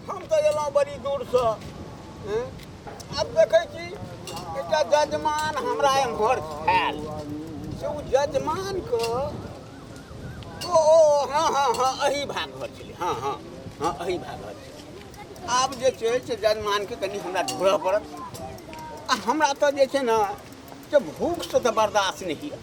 हम तऽ एलहुँ बड़ी दूरसँ हँ? आब देखै छी एकटा जजमान हमरा एम्हर छायल से ओ जजमानके ओ ओ हँ हँ हँ एही भाग घर छलै हँ हँ हँ एही भाग घर छलै आब जे छै से जजमानके कनि हमरा ढूँढऽ पड़त आ हमरा तऽ जे छै ने से भूखसँ तऽ बर्दाश्त नहि होइए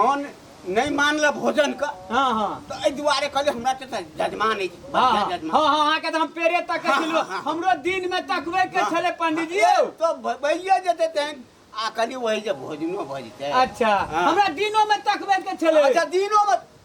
मन नहि मानल भोजन के हाँ हाँ तो एहि दुआरे कहले हमरा तो हाँ, जजमान अछि हाँ बढ़िया जजमान हाँ हाँ अहाँके तऽ हम पेड़े तकै हाँ, छलहुँ हाँ, हाँ। हमरो दिन मे तकबै के हाँ। छलै पंडित जी यौ तो भ- भइये जेतै तेहन आ कनि वही जे भोजनो भऽ जेतै अच्छा हाँ। हमरा दिनो मे तकबै के छलै अच्छा दिनो मे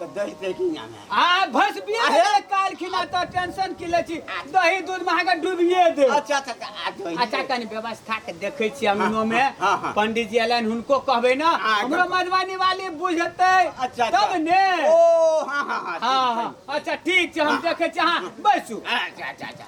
तऽ दही पे की नाम है आ भस बिया अरे! है काल खिना तो टेंशन की ले छी दही दूध में अहाँके डूबिए दे अच्छा अच्छा अच्छा, आ दही अच्छा कनि व्यवस्था के देखे छी अंगनो में हाँ, हाँ, हाँ। पंडित जी अलन हुनको कहबे ना हाँ, हमरो एकदम। मधुबनी वाली बुझते अच्छा, अच्छा। तब ने ओ हाँ हाँ हाँ हाँ हाँ अच्छा ठीक छै हम देखे छी अहाँ बैसू अच्छा अच्छा अच्छा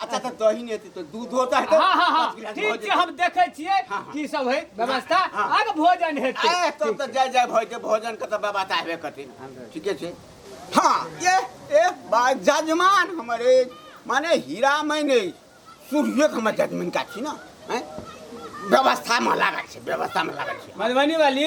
अच्छा तो दही नहीं थी तो दूध होता है तो हाँ हाँ हाँ पाँच गिलास ठीक भोजन। छै हम देखै छियै हाँ, हाँ। की सब है व्यवस्था हाँ। आगे भोजन हेतै ए, तब तो जय जय भय के भोजन के तो व्यवस्था हेबे करती ठीके छै हाँ ये ए बा जजमान हमारे माने हीरा मैंने सूर्य के हमर जजमान का छी ना हैं? व्यवस्था में लागल छै व्यवस्था में लागल छै मधुबनी वाली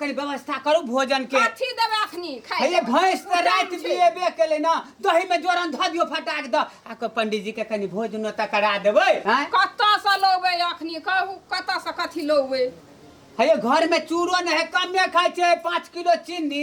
कनि व्यवस्था करू भोजन के कथी देबै अखनी खाइ हे ये भैंस तऽ राति बियेबे केलै ने दही में जोरन धऽ दियौ फटाक दऽ आ को पंडित जी के कनि भोजनो तऽ करा देबै हैं? कतऽसँ लौबै अखनी कहू कतऽसँ कथी लौबै हे ये घर में चूड़ो नहि है कमे खाइ छै पाँच किलो चीनी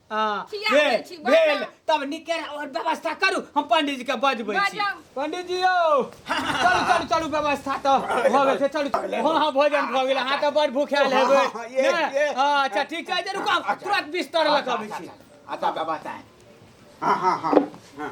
हाँ खिया दै भेल छी, भेल बाजऽ। तब निकेर और व्यवस्था करू हम पंडित जी के बजबै छी बाजऽ। पंडित जी यौ चलू चलू चलू व्यवस्था तऽ भऽ गेल छै चलू हाँ हाँ भोजन भऽ गेल अहाँ तऽ बड़ भूखायल हेबै हाँ, हाँ, ये, ने? ये। हाँ, अच्छा ठीक छै जे रुकू हम तुरंत बिस्तर लऽ कऽ अबै छी अच्छा व्यवस्था है हाँ हाँ हाँ हाँ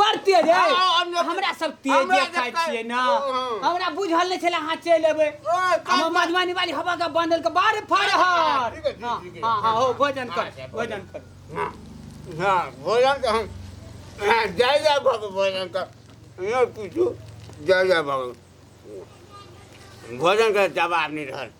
बड़ तेज है हमरा सब तेज खाइ छियै ने हमरा बुझल नहि छलै अहाँ चलि एबै हम मधुबनी वाली हवा का बंदल के बारे फाड़ हर हां हां हो भोजन कर भोजन कर हां भोजन कर हम जय जय बाबा भोजन कर यो पूछू जय जय बाबा भोजन का जवाब नहीं रहल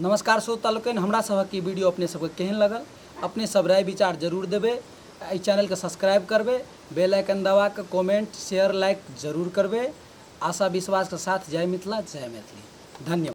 नमस्कार श्रोता लोकनि हमरा सभक ई वीडियो अपने सभके केहन लगल अपने सभ राय विचार जरूर देबै आ एहि चैनलके सब्सक्राइब करबै बेल आइकन दबा कऽ कमेंट शेयर लाइक जरूर करबै आशा विश्वासके साथ जय मिथिला जय मैथिली धन्यवाद